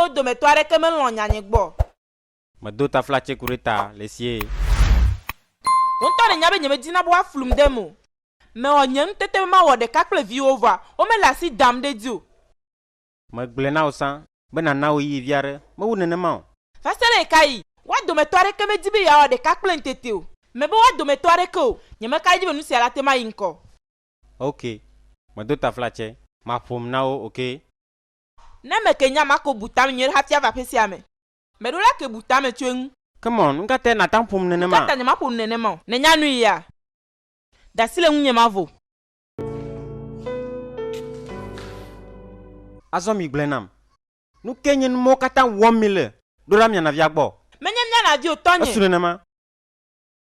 wo dometɔ aɖeke melɔ̃ nyanye gbɔ o. Medo tafla tseku ɖe ta le sie. Wò ŋutɔ nènya be nyemedina be woaflum dem o. Mewɔ nye ŋutete be mawɔ ɖeka kple viwò vɔa womele asi dam ɖe edzi o. Megblɔe na wò sã be nàna ɣeyiɣi vi aɖe mewu nenema o. Va se ɖe ɣekaɣi? Woa dometɔ aɖeke medi be yeawɔ ɖeka kplem tete o. Mebe woa dometɔ aɖeke o. Nyemeka edzi be nusia nate mayi ŋkɔ. Ok, medo tafla tse. Maƒom na wo, okay? Ne me ke nya mako bu tame nyuie ɖe hafi ava ƒe sia me. Me ɖo la ke bu tame tso eŋu. Come on, nu ka tae nàte ŋu ƒom nenema? Nu ka ta nyemaƒo nu nenema o? Nènya nui ya? De asi le ŋunye mavo. Azɔ migblɔe nam. Nu kae nye numɔwo katã wɔm mile? Ɖo la miana via gbɔ. Menye miana vi o, tɔnye. Esu nenema.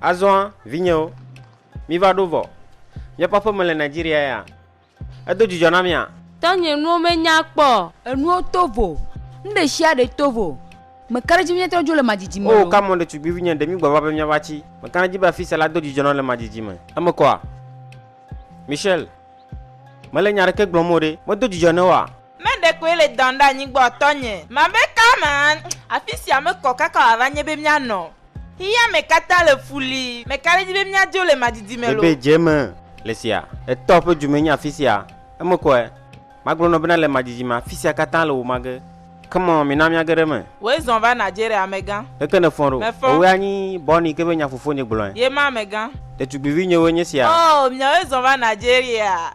Azɔ, vinyewo, míva ɖo vɔ. Míaƒe aƒe mele Nigeria ya? Edo dzidzɔ na mia? Tɔnye nuwo me nya kpɔ o. Enuwo to vo. Nuɖeshiaɖe to vo. Meka ɖe edzi be míatrɔ dzo le madzidzime me o. Oo, kamɔn ɖetugbivinye, ɖe mígba va be míava tsi. Meka ɖe edzi be afisia la do dzidzɔ nam le madzidzime. Eme kɔa? Michelle, mele nya aɖeke gblɔm o ɖe. Medo dzidzɔ ne woa? Ne ɖekoe le dɔm ɖe anyigba o, tɔnye. Mabe ka me an, afi sia mekɔ kaka wòava nye be míanɔ. Xexea me katã le fu li, meka ɖe edzi be míadzo le madidi me loo. Ebe dze me le sia. Etɔ ƒe dzume nye afi sia. Emekɔe. Magblɔ nɔ bena le madidi me afi sia katã le wò mage. Come on, mina míage ɖe eme. Wòe zɔn va Nigeria, amegã. Ɖeke nèfɔ ɖo. Mefɔ. Ewɔe anyi bɔni ke be nya fofonye gblɔe. Ye ma, amegã. Ɖetugbivi nyewoe nye sia. Oh, miawoe zɔn va Nigeria.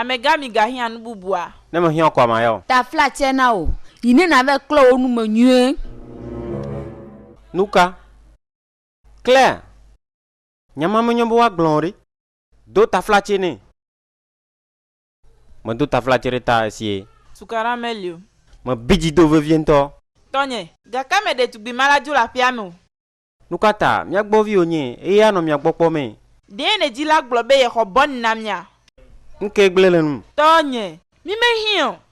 Amegã mi ga hiã nu bubua? Ne me hiã koa ma ya o. Ta fla tsɛ na wo yi ne na vɛ klɔ wo nu me nyuie. Nuka? Claire, nya ma me nyo be woa gblɔn o ɖe. Do taflatse nɛ. Medo taflatse ɖe ta esie. Tukaɖa meli o. Mebi dzi do vevie ŋutɔ. Tɔnye. Gake me ɖetugbui ma la dzo le aƒea me o. Nukata mia gbɔ viwo nye eye anɔ mia gbɔ kpɔ mee. Ɖee ne dzila gblɔ be yexɔ bɔn na mia. Ŋkee gblẽ le num. Tɔnye. Mi me hiã o.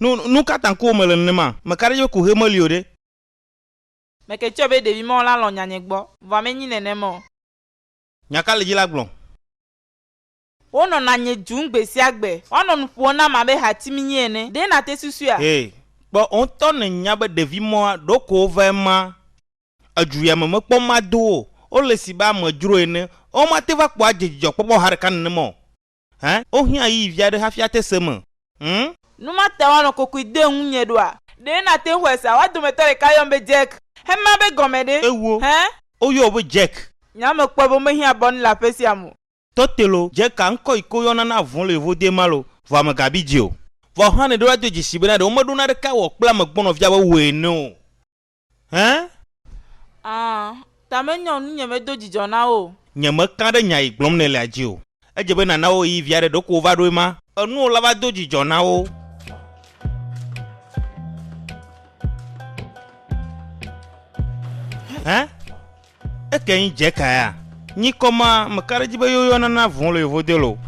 Nu, nu ka ta ŋkuwò mele nenema? Meka ɖe edzi be ku ʋee meli o ɖe? Meke tsɔ be ɖevi mawo la lɔ̃ nyanye gbɔ, vɔa menyi nenem o. Nya ka le edzi la gblɔm? Wonɔna nye dzum gbe sia gbe. Woanɔ nu ƒom nam abe hati minyi ene. Ɖe nàte susuea? Hɛ, kpɔ, wò ŋutɔ nènya be ɖevi mawoa, ɖeko wova ema edzu ya me mekpɔ mado wo o. Wole si be amedzro ene. Womate va kpɔ adze dzidzɔkpɔkpɔ ha ɖeka nenema o. Hẽ? Wohiã ɣeyiɣi vi aɖe hafi ate se eme? Hm? Nu ma ta woanɔ kokoe de ŋunye ɖoa? Ɖe nàte ŋu xɔe sea? Woa dometɔ ɖeka yɔm be Jack. Hema be gɔme ɖe? Ewo. Hẽ? Woyɔ wò be Jack. Nya mekpɔe be womehiã bɔnu le aƒe sia me o. Tɔte lo, Jack-a ŋkɔ yi ke woyɔna na avɔ̃ le yevo dee ma lo, vɔa megabi dzi o. Vɔ hã nèɖo la do dzesi bena ɖe womeɖo naɖeke awɔ kple amegbɔnɔvia be wòe ene o. Hẽ? Ã, ta menyɔ ŋunye medo dzidzɔ na wo o. Nyemeka ɖe nya yi gblɔm nèlea dzi o. Edze be nàna wo ɣeyiɣi vi aɖe, ɖeko wova ɖo ema. Enuwo la va do dzidzɔ na wo. Hẽ? Eke nyi dje ka ya? Nyi kɔ ma me ka ɖe dji be yo yɔ nana vɔn le yo vo delo.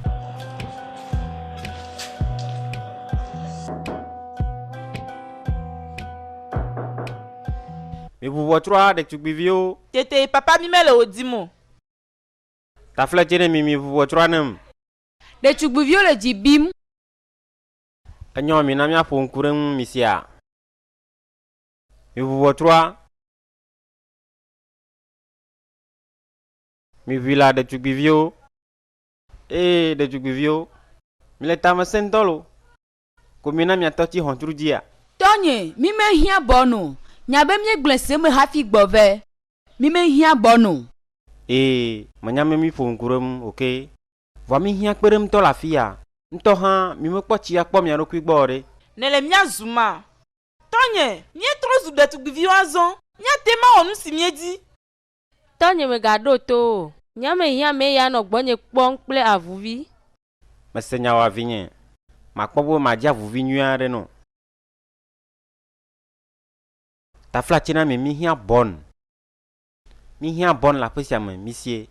Mi ʋu ʋɔ trɔa ɖetugbi viwo. Tete papa mi me le wo dim o. Tafle dje ne mi mi ʋu ʋɔ trɔa nem. Ɖetugbi viwo le dji bim. Enyɔ mi na mia ƒo ŋku ɖe ŋu mi sia. Mi ʋu ʋɔ trɔa. Miʋui la ɖetugbiviwo. Ee, ɖetugbiviwo, mile tamesẽŋtɔ lo, ko mina miatɔ tsi xɔntru dzia? Tɔnye, mi me hiã bɔ no. Nya be mie gblɔe se me hafi gbɔ ve. Mi me hiã bɔ no. Ee, menya me mi ƒo ŋku ɖe ŋu oke. Vɔa mi hiã kpe ɖem tɔ le afiya. Ŋtɔ hã mi me kpɔ tsi akpɔ mia ɖokui gbɔ o ɖe. Nele mia zu ma. Tɔnye, míetrɔ zu ɖetugbiviwo azɔ. Míate ŋu awɔ nu si míedi. Tɔnye, mègaɖo to wo o. Nya mehiã mee ya nɔ gbɔnye kpɔm kple avuvi. Mese nya wòa vinye. Makpɔ be madze avuvi nyui aɖe nɔ. Taflatsi na mi míhiã bɔn. Míhiã bɔn le aƒe sia me, misie.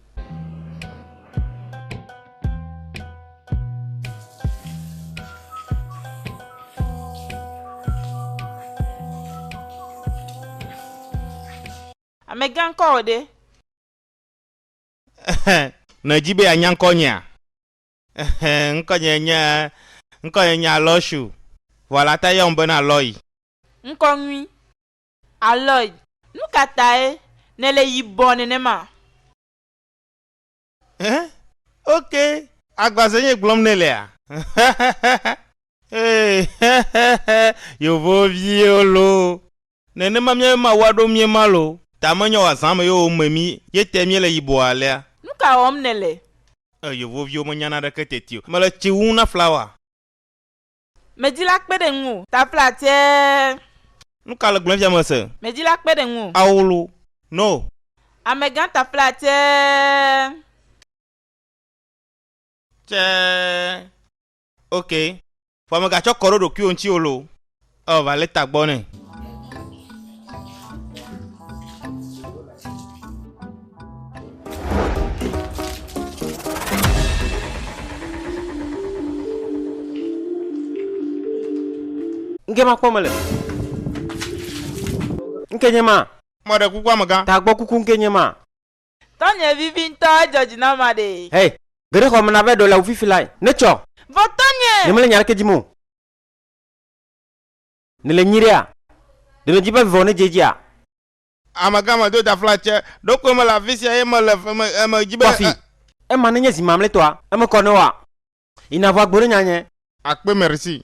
Amegã ŋkɔwò ɖe? Ɛhɛ, nèdi be yeanya ŋkɔnyea? Ɛhɛ, ŋkɔnye nye, ŋkɔnye nye Aloysiu, vɔ la ta yɔm bena Lɔyi. Ŋkɔ nyui. Aloy, nu ka tae nèle yibɔ nenema? Ẽ, ok, agbaze nye gblɔm nèlea? Hehehehe, yevoviwo loo, nenema míaƒe Mawu aɖo mí ema loo, ta menye wòazã ame yewo me mí ye tae míele yibɔ alea. Nu ka wɔm nèle? Ẽ, yevoviwo menya naneke teti o, mele tsi wum na flawa. Medi la kpe ɖe ŋuwò. Tafla tsɛɛ. Nu ka le gblɔm fia mese. Medi la kpe ɖe ŋuwò. Awlo no. Amegã tafla tsɛɛ. Tsɛɛ. Ok. Vɔ mega tsɔ kɔ ɖo ɖokuiwò ŋuti o lo. Eo va leta gbɔ nɛ. Nke ma kpɔ mele. Nke nye ma. Mɔɖe kuku amegã. Ta gbɔ kuku nke nye ma. Tɔnye vivi ŋutɔ edzɔ dzi na ma ɖe. Hey, geɖe xɔ me na be ɖo le wufifi lai. Ne tsɔ. Vɔ tɔnye. Ne mele nya ɖeke dzi mo. Ne le nyi ɖea. Ɖe ne dzi be vivɔ ne dze dzia. Amegã me do dafla tse. Ɖokoe mele afisia ye mele eme eme dzi be. Kɔfi. Ema nenye zi mamletɔa, eme kɔ ne woa. Yi na ʋua gbo ɖe nyanye. Akpe merci.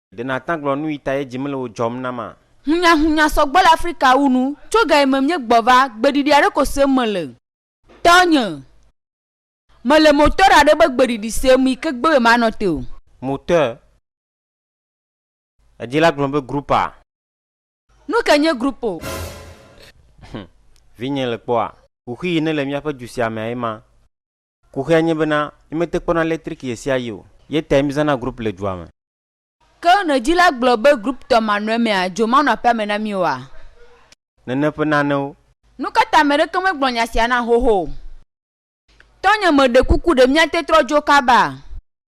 Ɖe nàtã gblɔ nuyitae dzi mele o dzɔm na ma? Hunyahunya sɔgbɔ le Afrika wu nu. Tso gayime míegbɔ va, gbeɖiɖi aɖe ko sem mele. Tɔnye, mele moteur aɖe be gbeɖiɖi sem yi ke gbe be manɔ te o. Moteur, èdi la gblɔm be groupe a? Nu kae nye groupe o? Hum, vinye, le kpɔa? Kuxi yi nele míaƒe du sia mea ye ma. Kuxia nye bena, mímete kpɔna letriki ɣesiaɣi o, ye tae mízãna groupe le dua me. Ke nunɔdzila gblɔ be groupe tɔ manɔe mea, dzo manɔ aƒea me na mí oa? Nene ƒe nanewo. Nukata ame ɖeke megblɔ nya sia na xoxo o? Tɔnye, meɖe kuku, ɖe míate trɔ dzo kabaa?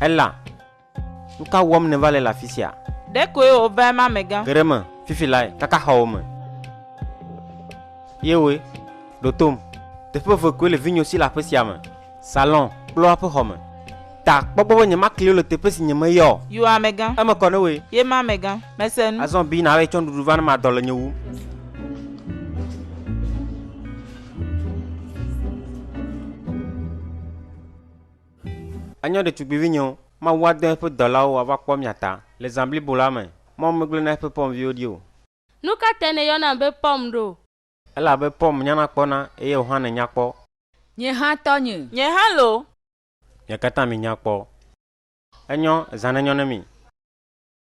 Ela, nu ka wɔm nèva le le afi sia? Ɖekoe wòva eme amegã. Ge ɖe eme fifi lae, kaka xɔwo me. Ye woe ɖo tom. Teƒe eve koe le vinyo si le aƒe sia me, salon kple woaƒe xɔ me. Ta kpɔ gbɔ be nyemakli wo le teƒe si nyemeyɔ o. Yo amegã. Eme kɔ ne wòe. Ye ma amegã. Mese nu. Azɔ bi nàvae tsɔ nuɖuɖu va ne madɔ le nye wum. Enyo ɖetugbivinyewo, Mawu adɔ eƒe dɔlawo woava kpɔ mia ta le zã blibo la me. Mawu megblɔe na eƒe pɔmviwo ɖi o. Nu ka tae nèyɔnam be pɔm ɖo? Elabe pɔm nyana kpɔna, eye wò hã nènya kpɔ. Nye hã tɔnye. Nye hã loo. Mia katã minya kpɔ. Enyo, zã nenyɔ ne mi.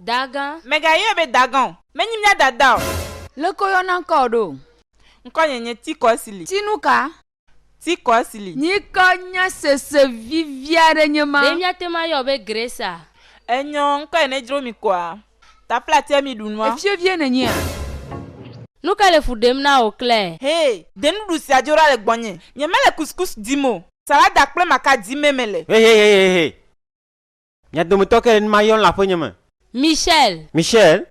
Dagã. Mègayɔe be dagã o. Menyi mía dada o. Leke woyɔna ŋkɔwò ɖo? Ŋkɔnye nye Tikɔsili. Ti nu ka? Tikɔsili. Nyi ke nye sese vivi aɖe nye ma? Ɖe míate ŋu ayɔwò be Gracea? Enyɔ, ŋkɔe nedzro mi koa? Efie vie nènyea? Nu ka le fu ɖem na wò, Claire? Hɛ, ɖe nuɖuɖu sia dzo ɖa le gbɔnye. Nyemele couscous dim o. Salada kple maka dimee mele. Hehehehe! Mia dometɔ ke le nu ma yɔm le aƒenye me. Michelle. Michelle.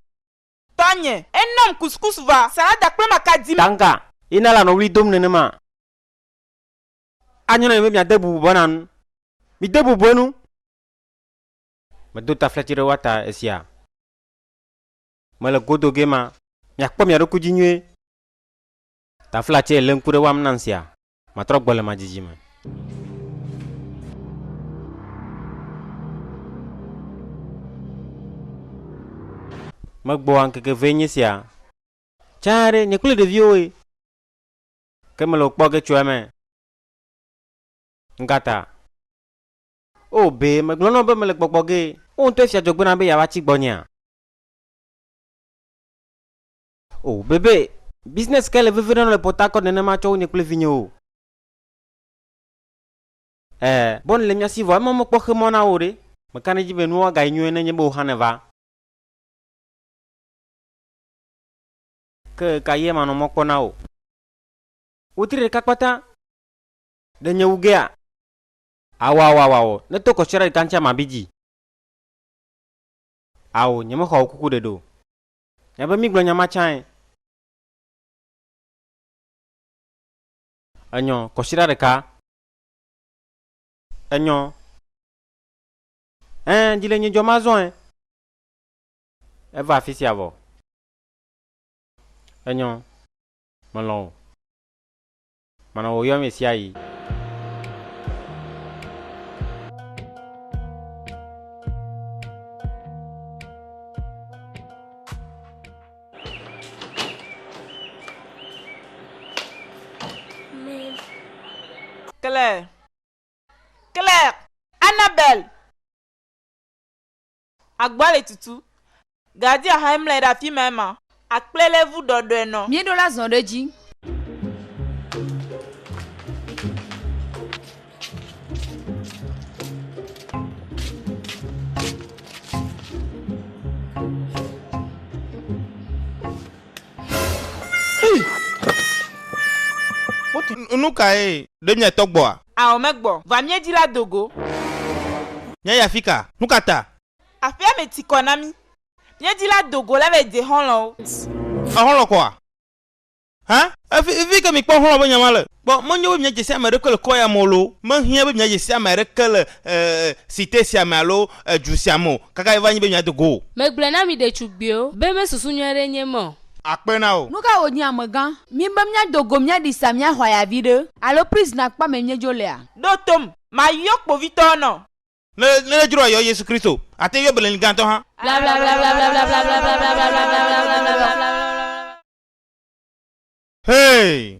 Tɔnye, e nɔm couscous va, salada kple maka dimee. Tanga, ye na la nɔ ɣli dom nenema. Anyo na mi be miade bubu be na nu. Mide bubue nu. Medo taflatsi ɖe woata esia. Mele go do gema. Miakpɔ mia ɖokui dzi nyuie. Taflatsie le ŋku ɖe woam nam sia. Matrɔ gbɔ le madzidzi me. Megbɔa ŋkeke vee nye sia. Tsa aɖe nye kple ɖeviwoe. Ke mele wokpɔ ge tso eme. Nukata. O, be megblɔ na wò be mele gbɔgbɔ ge. Wò ŋutɔe fia dzɔgbe na be yeava tsi gbɔnyea? O, be be business kae le veve ɖem le Port Harcourt nenema tsɔ wu nye kple vinyewo? E, Bonnie le mía si vɔ ema mekpɔ xe mɔ na wò ɖe? Meka ɖe edzi be nua gayi nyuie nenye be wò hã nèva. Ke ɣe ka ɣie manɔ mɔ kpɔ na wò? Wetri ɖeka kpata. Ɖe nye wu gea? Ao, ao, ao, ao, ne to kɔsiɔɖe ɖeka ŋuti ama bi dzi. Ao, nyemexɔa wò kuku ɖeɖe o. Nya be mígblɔ nya ma tsãe. Enyɔ, kɔsiɖa ɖeka. Enyɔ. Ẽ, dzi le nye dzɔm azɔe. Eva afisia vɔ. Enyɔ. Melɔ̃ wò. Mana wòyɔ ame sia ɣi. Claire. Claire! Annabelle! Agba le tutu. Gadi ahae mlɛ ɖe afimae ma. Akple lé vu ɖɔɖɔɛ nɔ. Míeɖo la zɔn ɖe dzi. Nukae? Ɖe miatɔ gbɔa? Ao megbɔ va mía dzi la do go. Mía ya fika, nu ka ta? Aƒea me ti kɔ na mí. Mía dzi la do go la va yi de xɔlɔ̃wo. A xɔlɔ̃ kɔa? Hã? Efi, efi ke mi kpɔ xɔlɔ̃ be nya ma le. Kpɔ, menyo be mia dze si ame ɖe kpe le kɔ ya me o loo, me hiã be mia dze si ame aɖe ke le e, e, cite sia me alo e, du sia me o, kaka yi va nyi be mia do go o. Megblɔe na mi ɖetugbiwo be me susu nyuie ɖe nye me o. akpe na wò. Nu ka wònye amegã? Mí be míado go míaɖi sa míaxɔ aya viɖe. Alo prison akpa mee míedzo lea? Ɖo tom, mayɔ kpovitɔwo na wò. Ne nèdzro ayɔ Yesu Kristo o, àte ŋu yɔ Belin gãtɔ hã. Hey!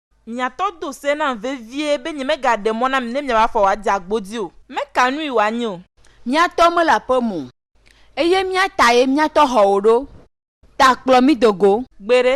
Mia tɔ do se nam vevie be nyemegaɖe mɔ na mi ne miava fɔ wòade agbodzi o. Meka nui wòanye o. Mía tɔ mele aƒe me o. Eye mía tae mía tɔ xɔwo ɖo. Ta kplɔ mí do go. Gbeɖe.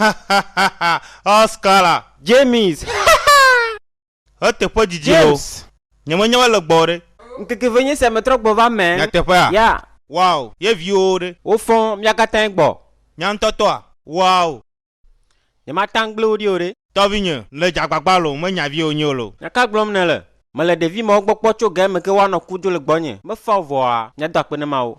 Hahaha Oscar James hahaa Eteƒe didi ho James Nye me nya wale gbɔ ɖe. Ŋkeke ve nye sia me trɔ gbɔ va mɛ. Nyateƒea? Yeah. Wow Ye viwo ɖe? Wo fɔ mia katãe gbɔ. Nya ŋtɔ tɔa? Wow. Nye ma taŋ gble wo ɖi o ɖe. Tɔvi nye le dza gbagba lo me nya viwo nyeo lo. Nya ka gblɔm ne le? Mele ɖevi mawo gbɔ kpɔ tso ge me ke woa nɔ ku do le gbɔ nye. Me fa o vɔa mia do akpe ne mawo.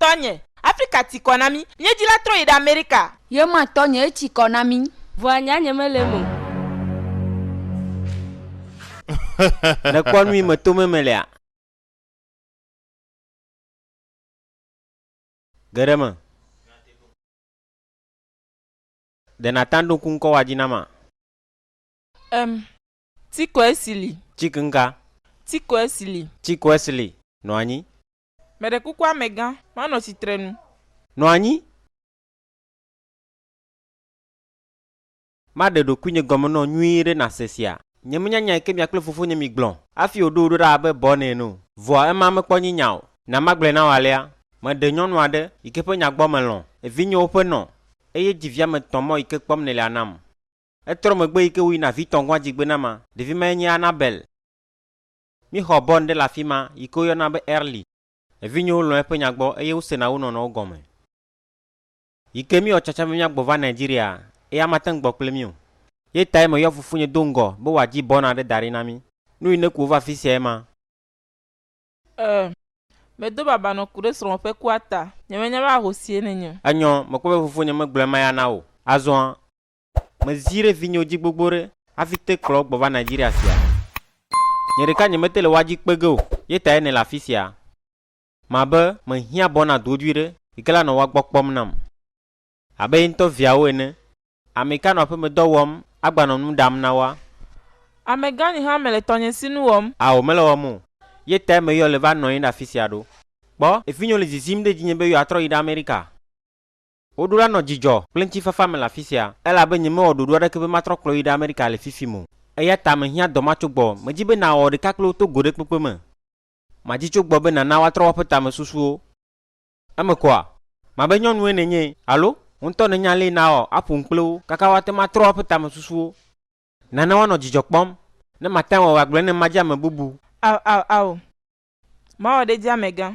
Tɔnye, Afrika ti kɔ na mí. Míedzi la trɔ yi ɖe Amerika. Ye ma tɔnye etsi kɔ na mí. Vɔa nya nye mele eme o. Nèkpɔ nu yi me to meme lea? Geɖe me. Ɖe nàtã ɖo ŋku ŋkɔ wɔadzi na ma? Em. Tsi kɔe si li. Tsi ŋka? Tsi kɔe si li. Tsi kɔe si li. Nɔ anyi. Meɖe kuku amegã, manɔ tsitrenu. Nɔ anyi. Maɖe ɖokuinye gɔme nɔ nyuie ɖe nase sia. Nyemenyanyae ke mia kple fofonye migblɔ. Afi wòɖo wò ɖo ɖa abe bɔn ene o. Vɔa ema mekpɔ nyi nya o. Na magblɔe na wò alea. Meɖe nyɔnu aɖe, yike ƒe nya gbɔ melɔ̃. Evinyewo ƒe nɔ. Eye dzi via me tɔ̃ mɔ yike kpɔm nèlia nam. Etrɔ megbe yike wòyi na vitɔ̃ gɔ̃a dzigbenama. Ɖevi mae nye Annabelle. Míexɔ Born ɖe le afi ma, yi ke woyɔna be Early. Evinyewo lɔ̃ eƒe nya gbɔ eye wosena wo nɔnɔwo gɔme. Yi ke míewɔ tsatsa be míagbɔ va Nigeriaa, eya mate ŋu gbɔ kple mí o. Ye tae meyɔ fofonye do ŋgɔ be wòadzi Born aɖe da ɖi na mí. Nu yi ne ku wò va afi siae ma. Ẽ, medo baba nɔ ku ɖe srɔ̃wò ƒe kua ta. Nyemenya be ahosie nènye o. Enyɔ, mekpɔ be fofonye megblɔ ema ya na wò o. Azɔa, mezi ɖe vinyewo dzi gbogbo ɖe hafi te kplɔ wo gbɔ va Nigeria sia. Nye ɖeka nyemete le woa dzi kpe ge o ye tae nele afi sia. Mabe mehiã bɔ na dodoe ɖe yi ke la nɔ woa gbɔ kpɔm nam. Abe ye ŋutɔ viawo ene, ame ka nɔ aƒemedɔ wɔm agbanɔ nu ɖam na woa? Amegã nye hã mele tɔnye si nu wɔm. Ao, mele wɔm o ye tae meyɔ le va nɔ anyi ɖe afi sia ɖo. Kpɔ, vinyewo le zizim ɖe dzinye be yewoatrɔ yi ɖe Amerika. Woɖo la nɔ dzidzɔ kple ŋutifafa me le afi sia, elabe nyemewɔ ɖoɖo aɖeke be matrɔ kplɔ yi ɖe Amerika le fifim o. Eya ta mehiã dɔ ma tso gbɔ. Medi be nàwɔ ɖeka kple wo to go ɖe kpekpe me. Madi tso gbɔ be nàna woatrɔ woaƒe tamesusuwo. Eme kɔa? Mabe nyɔnue nènye, alo? Wò ŋutɔ nènya alea nàwɔ aƒo nu kple wo kaka woate ŋu atrɔ woaƒe tamesusuwo. Nana woanɔ dzidzɔ kpɔm. Ne mate ŋu awɔe agblɔe ne madi ame bubu. Ao, ao, ao. Mawɔ ɖe edzi amegã.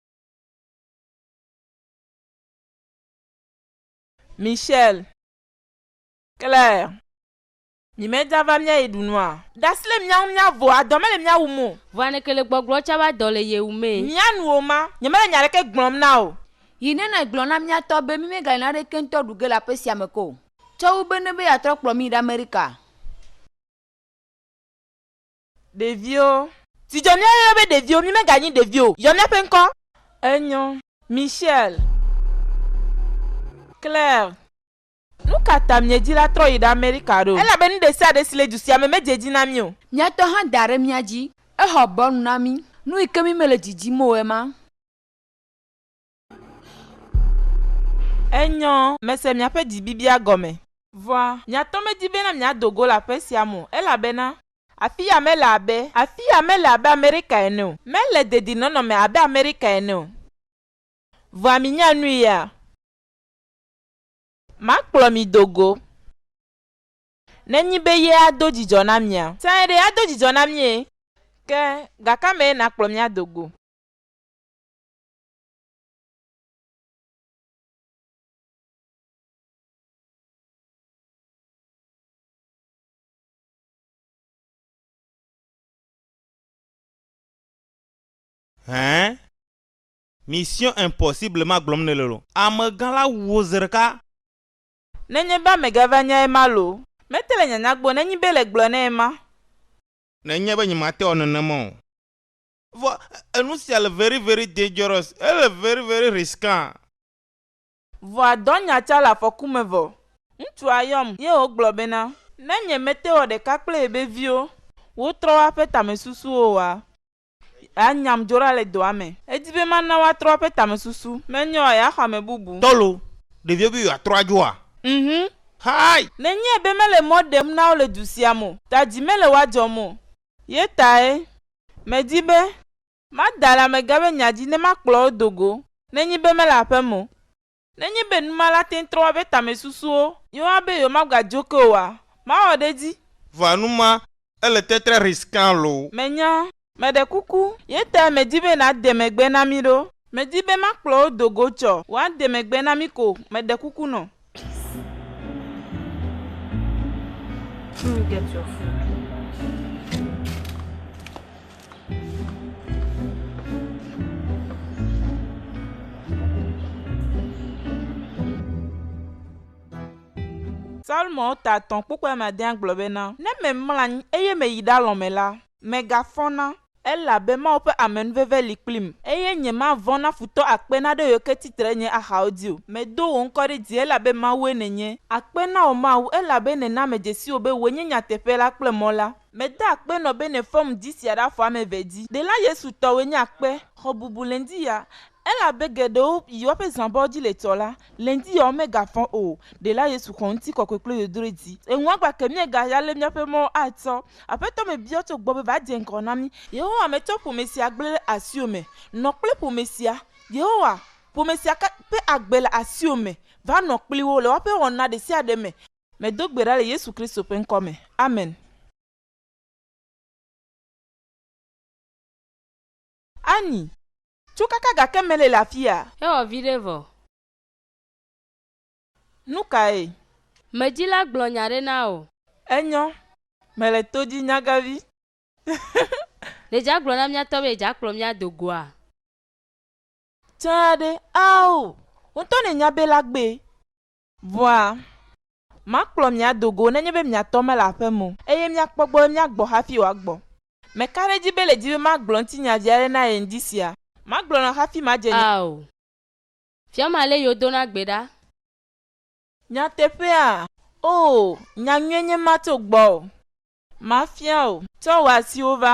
Michelle, Claire, mi mɛ dza va mia yi ɖu nua? Ɖasi le mia ŋu mia vo a dɔ mele mia wum o. Vɔ a neke le gbɔgblɔ tsa va dɔ le ye wum e. Mia nu o ma, nye mele nya ɖeke gblɔm na o. Yi ne na gblɔ na mia tɔ be mi me gale naɖeke ŋtɔ ɖu ge le aƒe sia me ke o. Tsɔ wu be ne be ya trɔ kplɔ mi yi ɖe America. Ɖeviwo. Zi dzɔ mía yɔyɔ be ɖeviwo, mí me ga nyi ɖeviwo o, yɔ mía ƒe ŋkɔ. Enyɔ. Michelle. Claire. Nuka ta mie dzi la trɔ yi ɖe Amerika ɖo? Elabe nu ɖe sia ɖe si le du sia me me dze dzi na mí o. Mía tɔ hã da ɖe mía dzi. Exɔ bɔlu na mí. Nu yi ke mí me le dzi dzim o ema. Enyɔ mese miaƒe dzibibia gɔme. Vɔa, miatɔ medi bena miado go le aƒe sia me o, elabena. Afiya mele abe. Afiya mele abe Amerika ene o. Mele dedinɔnɔ me abe Amerika ene o. Vɔa minya nui ya. Makplɔ mi do go. Nenyi be ye ado dzidzɔ na mia. Sãe ɖe, ado dzidzɔ na mie. Ke, gakame ye nakplɔ mi ado go? Hɛn. Mission impossible ma gblɔm nele lo. Amegã la wu wo zi ɖeka. Nenye be amegã va nyae ma lo. Mete le nyanya gbɔ nenyi be le gblɔ nɛ ma. Nenye be nyemate wɔ nenema o. Vɔ enu sia le very very dangerous, ele very very risquant. Vɔa dɔ nya tsa le afɔku me vɔ. Ŋtsua yɔm ye wo gblɔ bena, ne nye me te wɔ ɖeka kple yebe viwo wo trɔ woaƒe tamesusuwo oa, ya nyam dzo ɖa le dɔa me. Edi be ma na woatrɔ woaƒe tamesusu, me nye oa ya xɔ ame bubu. Tɔlo, ɖevio be yoa trɔ adjo oa? Mhum. Hi! Ne nye be mele mɔ ɖem na wo le du sia me o, ta dzi mele woa dzɔm o, ye tae Medi be mada le amegã be nya dzi ne makplɔ wo do go nenye be mele aƒe me o. Nenye be nu ma la te ŋu trɔ woƒe tamesusuwo yewoa be yewomagadzo ke oa, mawɔ ɖe edzi. Vɔa nu ma ele tetre risquant loo. Menya. Meɖe kuku, Yeter medi be nàde megbe na mí ɖo. Medi be makplɔ wo do go tsɔ woade megbe na mí ko, meɖe kuku nɔ. Salmo ta atɔ̃ kpukpui ame adea gblɔ bena, Ne memlɔ anyi eye meyi ɖalɔ̃ me la, megafɔna. Elabe Mawu ƒe amenuveve li kplim. Eye nyemavɔ̃ na futɔ akpe naɖe yɔ ke tsi tre nye axawo dzi o. Medo wò ŋkɔ ɖe dzi, elabe Mawue nènye. Akpe na wò Mawu, elabe nèna medzesi wò be wòe nye nyateƒe la kple mɔ la. Meda akpe nɔ be nèfɔm dzi sia ɖe afɔ ame eve dzi. Ɖela Yesu tɔwòe nye akpe. Xɔ bubu le ŋdi ya. Elabe geɖewo yi woaƒe zãbɔwo dzi le tsɔ la, le ŋdi yewoawo megafɔ o. Ɖela Yesu xɔ ŋutikɔkɔe kple yodroe dzi. Eŋua gba ke míegaya ale míaƒe mɔwo atsɔ. Aƒetɔ me biɔ tso gbɔ be va dze ŋgɔ na mí. Yehowa metsɔ ƒome sia gblẽ ɖe asiwò me. Nɔ kple ƒome sia. Yehowa, ƒome sia ka ƒe agbe le asiwò me. Va nɔ kpli wo le woaƒe wɔna ɖe sia ɖe me. Medo gbe ɖa le Yesu Kristo ƒe ŋkɔ me. Amen. Annie. Tso kaka gake mele le afia. Ewɔ viɖe vɔ. Nukae? Me dzi la gblɔ nya ɖe na wò. Enyɔ. Mele to dzi nyagavi. Ɖe dza gblɔ na mía tɔ be dza kplɔ mía do goa? Tsɛa ɖe? Ao! Wotɔ ne nya be la gbe. Vɔa, makplɔ mi ado go nenye be mia tɔ mele aƒe me o, eye miakpɔ gbɔ be miagbɔ hafi wòagbɔ. Meka ɖe edzi be le dzi be magblɔ ŋutinya vi aɖe na ye ŋdi sia, magblɔ nɔ hafi madze nya. Ao, Fia ma lé yo dona gbe ɖa. Nyateƒea, Oo, nya nyuie nye ma tso gbɔwò. Mafia wò. Tsɔ wò asiwo va.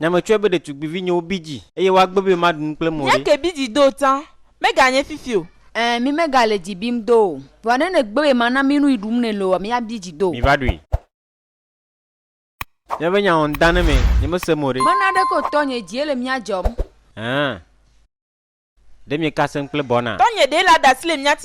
Nya metsɔe be ɖetugbivinyewo bi dzi eye woagbe be maɖu nu kple mɔɖe. Míake bi dzi do tsã, meganye fifi o. Ẽ, mí megale dzi bim do o. Vɔa ne nègbe be mana mí nu yi ɖum nɛ loo, míabi dzi do. Miva ɖui. Míabe nya wɔm dã ne mɛ, nyemese mo ɖe. Mena ɖeke o, tɔnye, dzie le mía dzɔm. Ẽ, ɖe miekasem kple bɔna. Tɔnye, ɖe le aɖasi le mía ti.